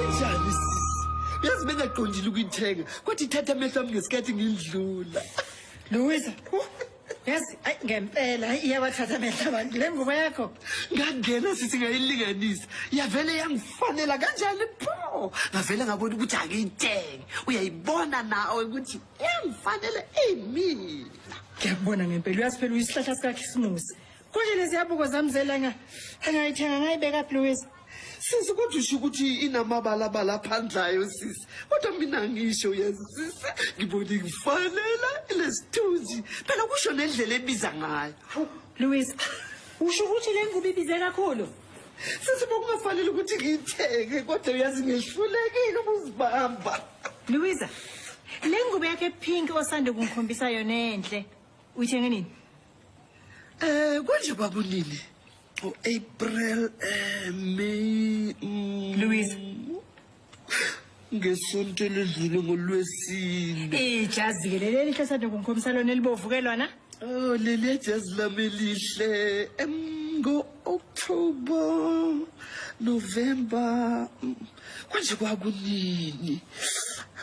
Njani sisi? Uyazi bengaqondile ukuyithenga kwathi ithatha amehlo ami ngesikhathi ngindlula Louisa, huh? yazi ayi ngempela hayi iyawathatha amehlo abantu le ngubo yakho. ngangena sisi ngayilinganisa yavele yangifanela kanjani pho ngavele ngabona ukuthi angiyithenge uyayibona nawe ukuthi Yangifanele imina. Ngiyakubona ngempela uyazi phela uyisihlahla sikaKhisimusi. Konje lezi yabuko zami zelanga angayithenga ngayibeka Louise. Sisi kodwa usho ukuthi inamabalabala aphandlayo sisi. Kodwa mina ngisho uyazi sisi ngibona ngifanela lesithunzi. Phela kusho nendlela ebiza ngayo. Louise, usho ukuthi le ngubo ibize kakhulu? Sisi bokungafanele ukuthi ngiyithenge kodwa uyazi ngihlulekile ukuzibamba. Louisa, le ngubo yakhe pink osande kungikhombisa yona enhle. Uyithenge nini? Eh konje kwakunini? O April, eh May. Mm, Louisa. Ngesonto ledlule ngolwesine. Ijazi ke leli elihle osande kungikhombisa lona elibovu ke lona. Oh leli jazz lami lihle ngo October November mm, kwanje kwakunini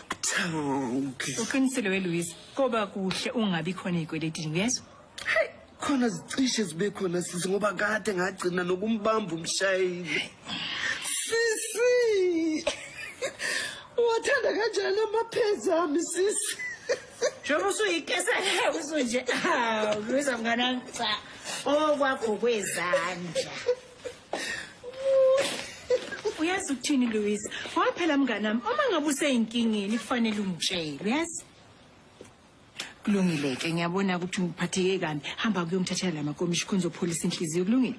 kuthawuke uqinisile weLouise koba kuhle ungabi khona ezikweletini uyezwa hey khona zicishe zibe khona sisi ngoba kade ngagcina nokumbamba umshayeli sisi wathanda kanjani amaphezi ami sisi Njengoba usuyikesa le usunje awu ngibiza mngane wami cha okwakho kwezandla. Uyazi ukuthini Louise? Waphela mngane wami uma ngabe useyinkingeni kufanele ungitshele uyazi? Kulungile ke ngiyabona ukuthi ngiphatheke kabi hamba kuyongithathela la makomishi khona uzopholisa inhliziyo kulungile?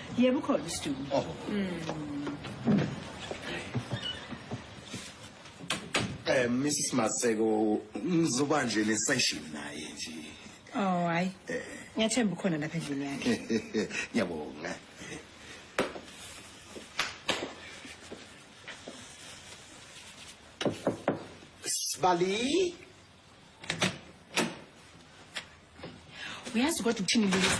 Yebo ukhona uStuku. Oh. Mm. Eh Mrs Maseko ngizoba nje le session naye nje. Oh hayi. Eh. Ngiyathemba ukhona lapha endlini yakhe. Ngiyabonga. Sibali. Uyazi kodwa ukuthini Lisa?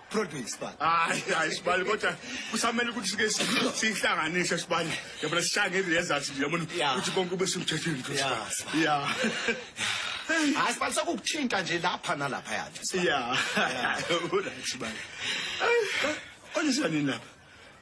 Produce sibali. Hayi hayi sibali kodwa kusamele ukuthi sike si- sihlanganise sibali. Yabona sishange i-results nje yabona Yeah. ukuthi konke kube semthethweni nje Yeah, sibali. Yeah. Hayi sibali sokukuthinta nje lapha nalapha yathi. sibali. Yeah. Unathi sibali. Olisa nini lapha?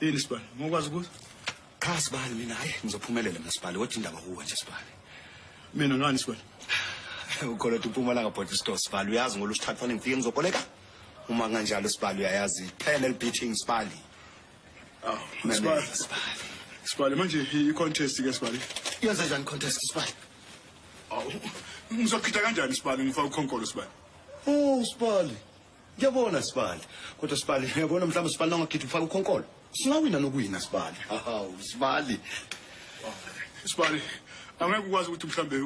Yini sibani? Ngokwazi ukuthi qha sibani mina hayi ngizophumelela mina sibani kodwa indaba kuwe nje sibani. Mina ngani sibani? Ukhona ukuthi uMpumalanga body store sibani uyazi ngolu sithathu fanele ngifike ngizoboleka. Uma kanjalo sibani uyayazi phela elibeating sibani. Aw, sibani. Sibani manje i-contest ke sibani. Yenza kanjani contest sibani? Aw, ngizochitha kanjani sibani ngifaka ukhonkolo sibani? Oh, sibani. Ngiyabona Sibali. Kodwa Sibali, uyabona mhlawumbe Sibali nangagidi ufaka ukhonkolo. Singawina nokuwina Sibali. Hawu Sibali. Sibali, angeke ukwazi ukuthi mhlambe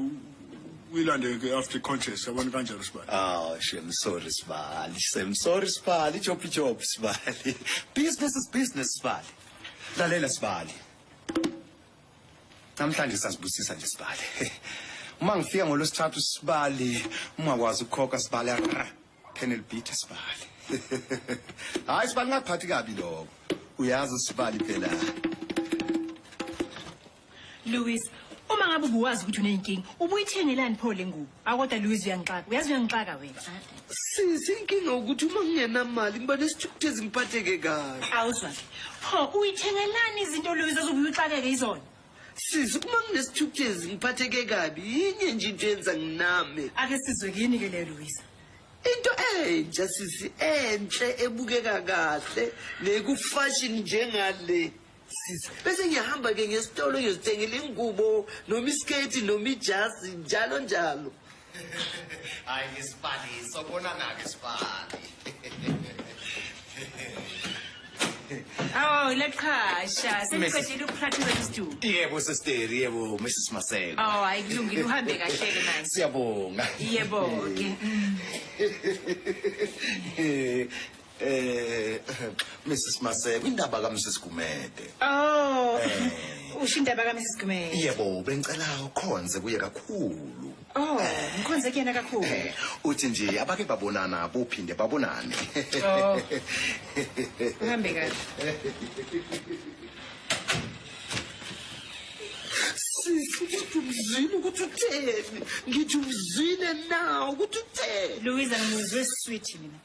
uyilande ke after contest yabona kanjalo Sibali. Oh, shem sorry Sibali. Shem sorry Sibali. Job job Sibali. Business is business Sibali. Lalela Sibali. Namhlanje sazibusisa nje sibale. Uma ngifika ngolwesithathu sibali ungakwazi ukukhokha sibali ara panel beat sibali. Hayi sibali ngakuphathi kabi lokho. Uyazi usibali phela. Louis, uma ngabe ubuwazi ukuthi unenkinga, ubuyithengelani pho le ngubo? Awu kodwa Louise uyangixaka. Uyazi uyangixaka wena. Sisi inkinga ukuthi uma ngingenamali ngiba nesithukuthezi ngiphatheke kabi. Awuzwa ke. Pho uyithengelani izinto Louise ozobuye uxakeke izona? Sisi uma nginesithukuthezi ngiphatheke kabi yinye nje into yenza nginame. Ake sizwe kini ke leyo Louise. Into entsha sisi enhle ebukeka kahle nekufashion njengale. sisi bese ngiyahamba-ke ngesitolo ngiyozithengela ingubo noma isiketi noma ijazi njalo njalo hayi ngisibali sobonana-ke sibali Oh, laqhasha. Seniqedile ukupractice istudio. Yebo sister, yebo Mrs Maseko. Oh, hayi kulungile uhambe kahle ke manje. Siyabonga. Yebo ke. Eh Mrs Maseko indaba ka Mrs Gumede. Oh. Eh. Usho indaba ka Mrs Gumede. Yebo bengicela ukhonze kuye kakhulu. Oh, ngikhonze eh. kuyena kakhulu. Eh, uthi nje abake babonana bophinde babonane. Oh. Uhambe kahle. Sisi ukuthi umzini ukuthi utheni. Ngithi umzini na ukuthi utheni. Louise angizwe sweet mina.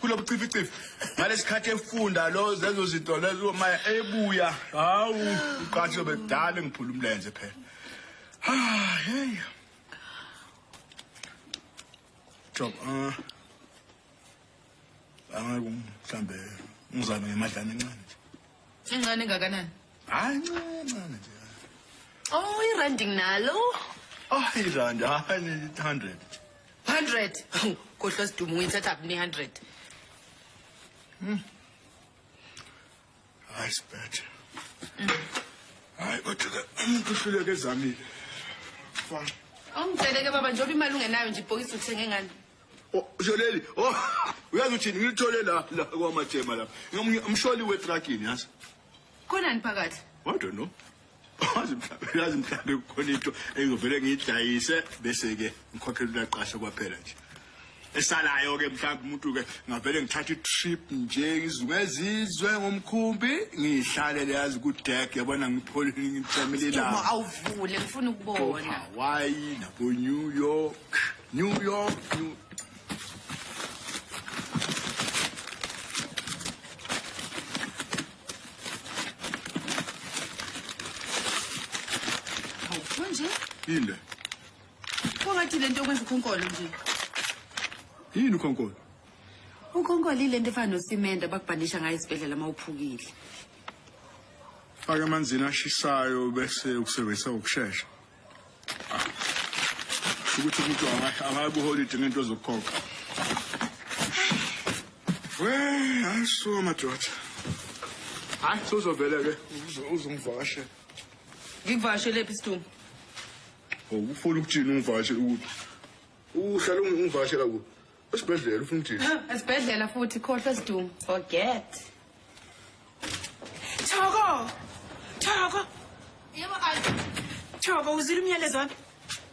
kulobucificifi ngalesikhathi efunda lo zezo zinto lezo maya ebuya hawu uqathi yobe kudala ngiphula umlenze phela ah hey job ah angaku mhlambe ngizame ngemadlana encane Incane engakanani? Hayi ncane ncane nje. Oh, irandi nginalo. Oh, irandi hayi 100. 100. Khohlwa sidumo uyithatha kuphi 100? Hmm. Hayi sibethe. Hayi kodwa umuntu uhluleke ezamile. Fine. Awungitsheleke baba njengoba imali ungenayo nje ibhokisi uthenge ngani? usho leli oh uyazi uthini ngilithole la la kwamajema la ngomunye umsholi wetragini yazi khonani phakathi i don't know wazi mhlawumbe yazi mhlawumbe kukhona into engivele ngiyidlayise bese-ke ngikhokhela ulaqasha kwaphela nje esalayo-ke mhlawumbe umuntu-ke ngavele ngithatha i-trip nje ngizungezizwe ngomkhumbi ngiyihlalele yazi kudek yabona ngipholile ngithamile la awuvule ngifuna ukubona hawaii nabonew york New York, New Hawu, nje Yini le? Phakathi lento okwenza ukhonkolo nje. Yini ukhonkolo? Ukhonkolo ilento efana nosimende abakubhandisha ngayo isibhedlela uma uphukile. Faka amanzini ashisayo bese ukusebenzisa ukushesha. ukuthi umuntu akakuholide ngento zokukhokha we hayi suka madoda hayi sozovele ke uzongivakashe ngikuvakashelephi sidumbu ufuna ukuthini ungivakashele ukuthi uhlala ungivakashela kuphi Esibhedlela ufuna uthini? Esibhedlela futhi khohlwa sidumo. Forget. Thoko. Thoko. Yebo ay. Thoko uzile umyalezo wami.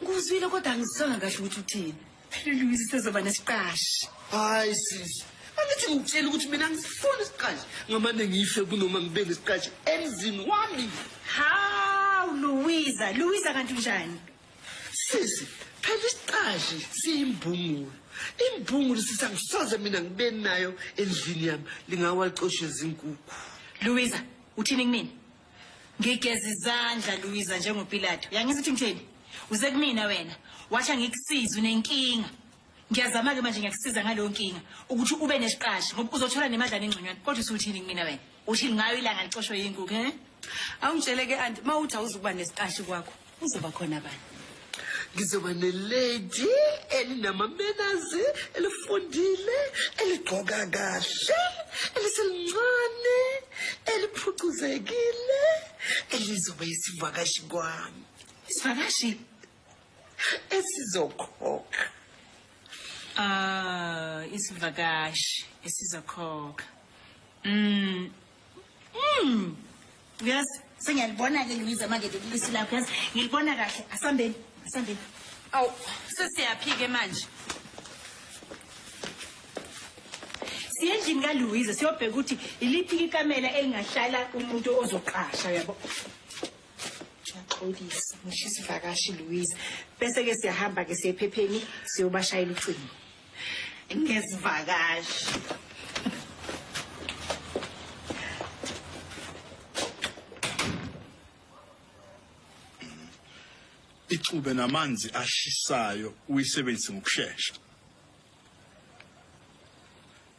Nguzwile kodwa angisanga kahle ukuthi uthini. Phela Louise sezoba nesiqashi. Hayi sisi. Angithi ngitshela ukuthi mina ngisifuna isiqashi. Ngamane ngife kunoma ngibe nesiqashi emzini wami. Haw Louisa, Louisa kanti unjani? sisi phela isiqashi siyimbungulu imbungulu sisa ngisoze mina ngibe nayo endlini yami lingawacoshe izinkukhu luwiza uthini kumina ngigeza izandla luwiza njengopilato yangisa ukuthi ngitheni uze kumina wena washa ngikusiza unenkinga ngiyazama-ke manje ngiyakusiza ngaleyo nkinga ukuthi ube nesiqashi ngoba uzothola nemadlana engconywana kodwa usuthini kumina wena Uthini ngayo ilanga licoshwe yinkukhu he? Awungitshele ke anti mawuthi awuzukuba nesiqashi kwakho uzoba khona bani? Ngizoba nelady elinamamenazi elifundile eligqoka kahle eliselincane eliphucuzekile elizoba isivakashi kwami. Isivakashi? esizokhokha ah isivakashi esizokhokha mm mm yes sengiyalibona ke ngibiza manje lelisi lakho yes ngilibona kahle asambeni asambeni aw sesiyaphike manje siyendlini kaLuwiza siyobheka ukuthi iliphi ikamela elingahlala umuntu ozoqasha yabo uyaxolisa ngisho isivakashi louise bese-ke siyahamba-ke siye ephepheni siyobashayela ucingo ngezivakashi ixube namanzi ashisayo uyisebenzise ngokushesha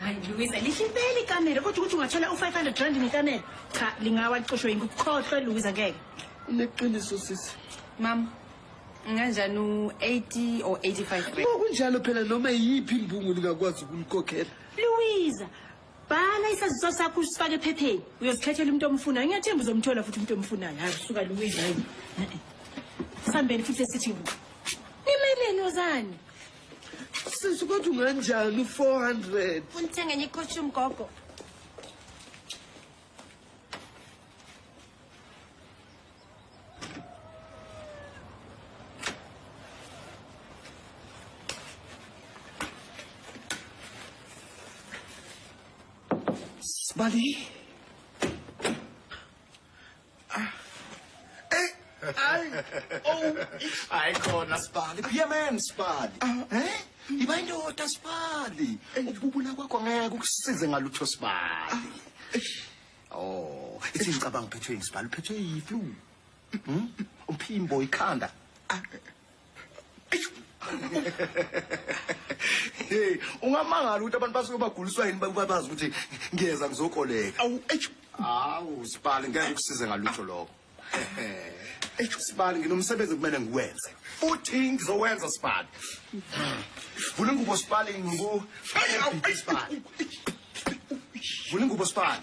hayi luwisa lihle impela ikamera kodwa ukuthi ungathola u-five hundred rand ngekamera cha lingawa licoshwe yingikukhohlwe luwisa ngeke uneqiniso sisi mama nganjani u-eighty or eighty five kunjalo phela noma yiyiphi imbungu lingakwazi ukulikhokhela luwisa bhala isaziso sakho usifake ephepheni uyozikhethela umuntu omfunayo ngiyathemba uzomthola futhi umuntu omfunayo hayi suka luwisa hayi sambeni futhi esithi nimeleni ozani Sisi kodwa unganjani u-400? Funa uthenga enye ikhoshi umgogo. Sibali. Ay, oh, ay khona sibali. Kuyemen sibali. Eh? Iba indoda sibali. Ukububula kwakho ngeke ukusize ngalutho sibali. Oh, ithi ngicabanga uphethwe yini sibali? Uphethwe yiflu. Mhm. Umphimbo ikhanda. hey ungamangala ukuthi abantu basuke baguliswa yini babazi ukuthi ngiyeza ngizokoleka awu eish awu sibali ngeke kusize ngalutho lokho eish sibali nginomsebenzi kumele ngiwenze futhi ngizowenza sibali vula ingubo sibali ngiku sibali vula ingubo sibali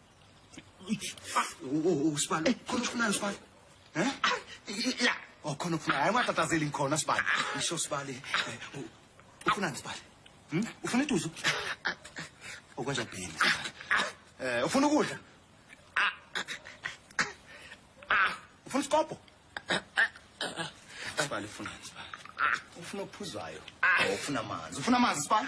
usibalo khona ufunani sibalo um ya o khona ufuna hayi ungatatazeli ngikhona sibali isho sibali ufunani sibali ufuna iduzu okwenja bhini um ufuna ukudla ufuna isikobho sibali ufunani sibali ufuna okuphuzwayo ufuna amanzi ufuna amanzi sibali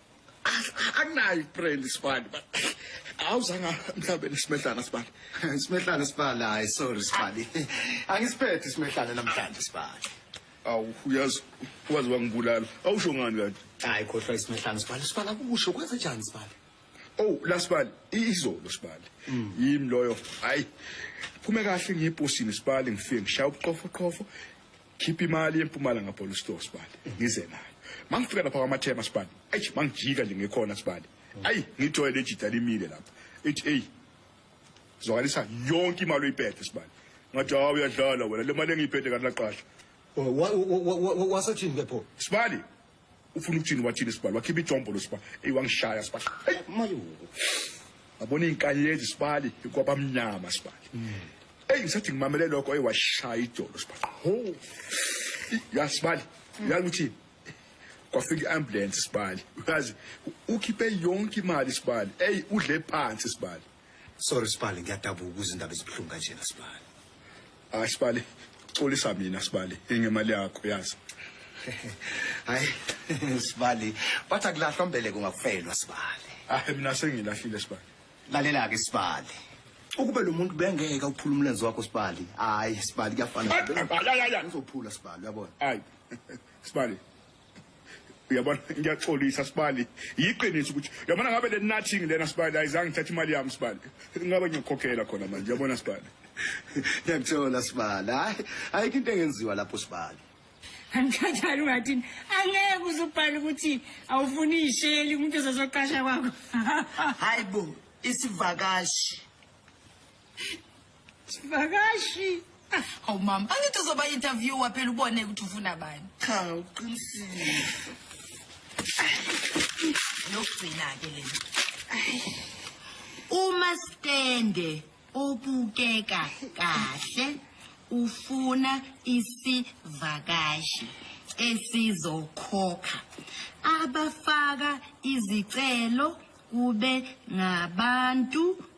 akunayo ibrand isibali but awuzanga mhlawumbe isimehlana sibali isimehlana sibali hayi sorry sibali angisiphethe isimehlana namhlanje sibali awu uyazi wazi wangibulala awusho ngani kanti hayi khohlwa isimehlana sibali sibali akusho kwenze njani sibali oh la sibali izolo sibali mm. yimi loyo hayi phume kahle ngiyibhosini sibali ngifike ngishaya ubuqofo qofo khipha imali empumalanga bholo store sibali ngize nayo mangifika lapha kwamathema sibali ayi mangijika nje ngekhona sibali ayi ngithoye lejida limile lapha ethi hey zwakalisa yonke imali oyiphethe sibali ngathi hawu uyadlala wena le mali engiyiphethe kanti laqasha wasothini ke pho sibali ufuna ukuthini wathini sibali wakhipha ijombo lo siba eyi wangishaya sibali eyi mayo ngabona iy'nkanyezi sibali kwabamnyama sibali eyi ngisathi ngimamele lokho eyi washaya idolo sibali ho ya sibali uyazi ukuthi kwafika i-ambulance sibali uyazi ukhiphe yonke imali sibali eyi udle phansi sibali sorry sibali ngiyadabuka ukuze indaba ezibuhlungu kanjena sibali Hayi sibali, xolisa mina sibali, ingemali yakho yazi. Hayi sibali, bathi akulahlwa mbeleko ngakufelwa sibali. Hayi mina sengilahlile sibali. Lalela ke sibali. Ukube lo muntu bengeke uphula umlenze wakho sibali. Hayi sibali kuyafana. Uzophula sibali uyabona. Hayi. Sibali. uyabona ngiyaxolisa sibali yiqiniso ukuthi uyabona ngabe le nothing lena sibali ayizange ngithathe imali yami sibali ngabe ngiyokhokhela khona manje uyabona sibali ngiyakuthola sibali hayi ayikho into engenziwa lapho sibali angikhathali ungathini angeke uze ubhale ukuthi awufuni isheli umuntu ozozoqasha kwakho hayi bo isivakashi Sivakashi. Ah, hawu mama, angithi uzoba interviewer phela ubone ukuthi ufuna bani. Cha, uqinisile. Yokugcina ke lena. Uma stende obukeka kahle ufuna isivakashi esizokhokha abafaka izicelo kube ngabantu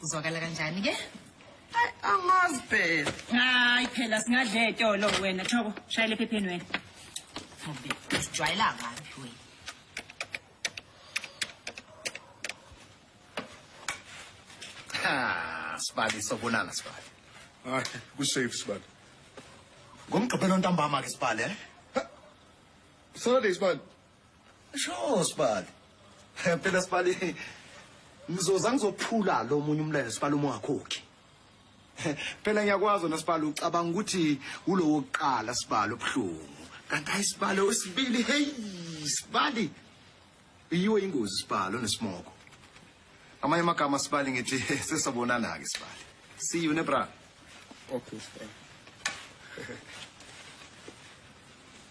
Kuzwakala kanjani ke? Ay angazi phela. Hayi phela singadle etolo wena Thoko shayile phepheni wena. Ngobe usijwayela kabi wena. Ha, sibali sobonana sibali. Hayi, ku safe sibali. Ngomgqibelo ntambama ke sibali eh? Saturday sibali. Sho sibali. Phela sibali ngizoza ngizophula lo munye umlelo sibali uma ungakhokhi. Phela ngiyakwazi wena sibali ucabanga ukuthi ulowo kuqala sibali obuhlungu. Kanti ayisibali osibili hey sibali. Iyiwe ingozi sibali onesimoko. Amanye amagama sibali ngithi sesabonana ke sibali. See you nebra. Okay sibali.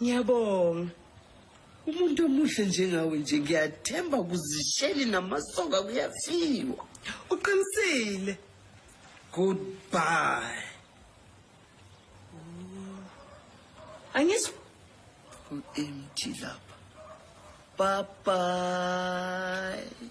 Ngiyabonga. Umuntu omuhle njengawe nje ngiyathemba kuzisheli namasoka kuyafiwa. Uqinisile. Goodbye. Angizwa. Ku-empty lapha. Bye bye.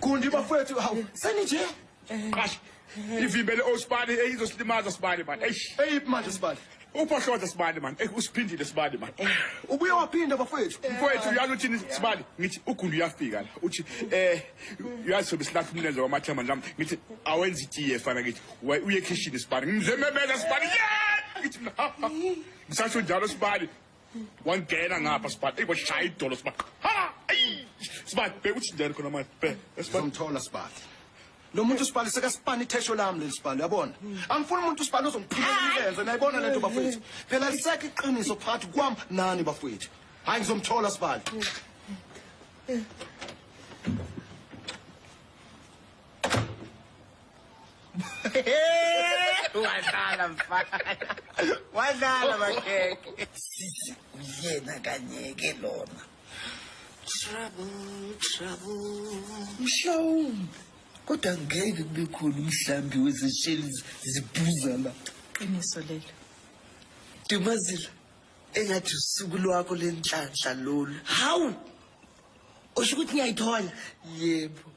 Gundi bafowethu hawu seni nje. Qasha. Ivimbele osibani eyizosilimaza sibani man. Eish. Eyiphi manje sibali? Uphohloza sibani man. Ey usiphindile sibani man. Ubuye waphinda bafowethu. Mfowethu uyazi uthini sibali ngithi ugundi uyafika la uthi eh uyazi sobe silahla umlenze wamathemba nami ngithi awenza itiye fana ngithi "Wa- uye ekhishini sibani ngimzememeza sibani yeah ngithi mina, ha, ha. ngisasho njalo sibani wangena ngapha sibhati eyi washaya idolo sibati ha eyi sibati bheka ukuthi njani khona manje bheka sibati sizomthola sibali lo muntu sibali sekasipani ithesho lami leli sibali uyabona angifuni umuntu sibali ozongiphilela imilenze nayibona lento bafowethu phela lisekho iqiniso phakathi kwam nani bafowethu hhayi ngizomthola sibali wadlala mfana wadlala makhekhe sisi uyena kanyeke lona trouble trouble mhlawumbe kodwa ngeke kube khona umhlambi wezesheli zibhuza la qiniso lelo dumazila engathi usuku lwakho lenhlanhla lolu hawu usho ukuthi ngiyayithola yebo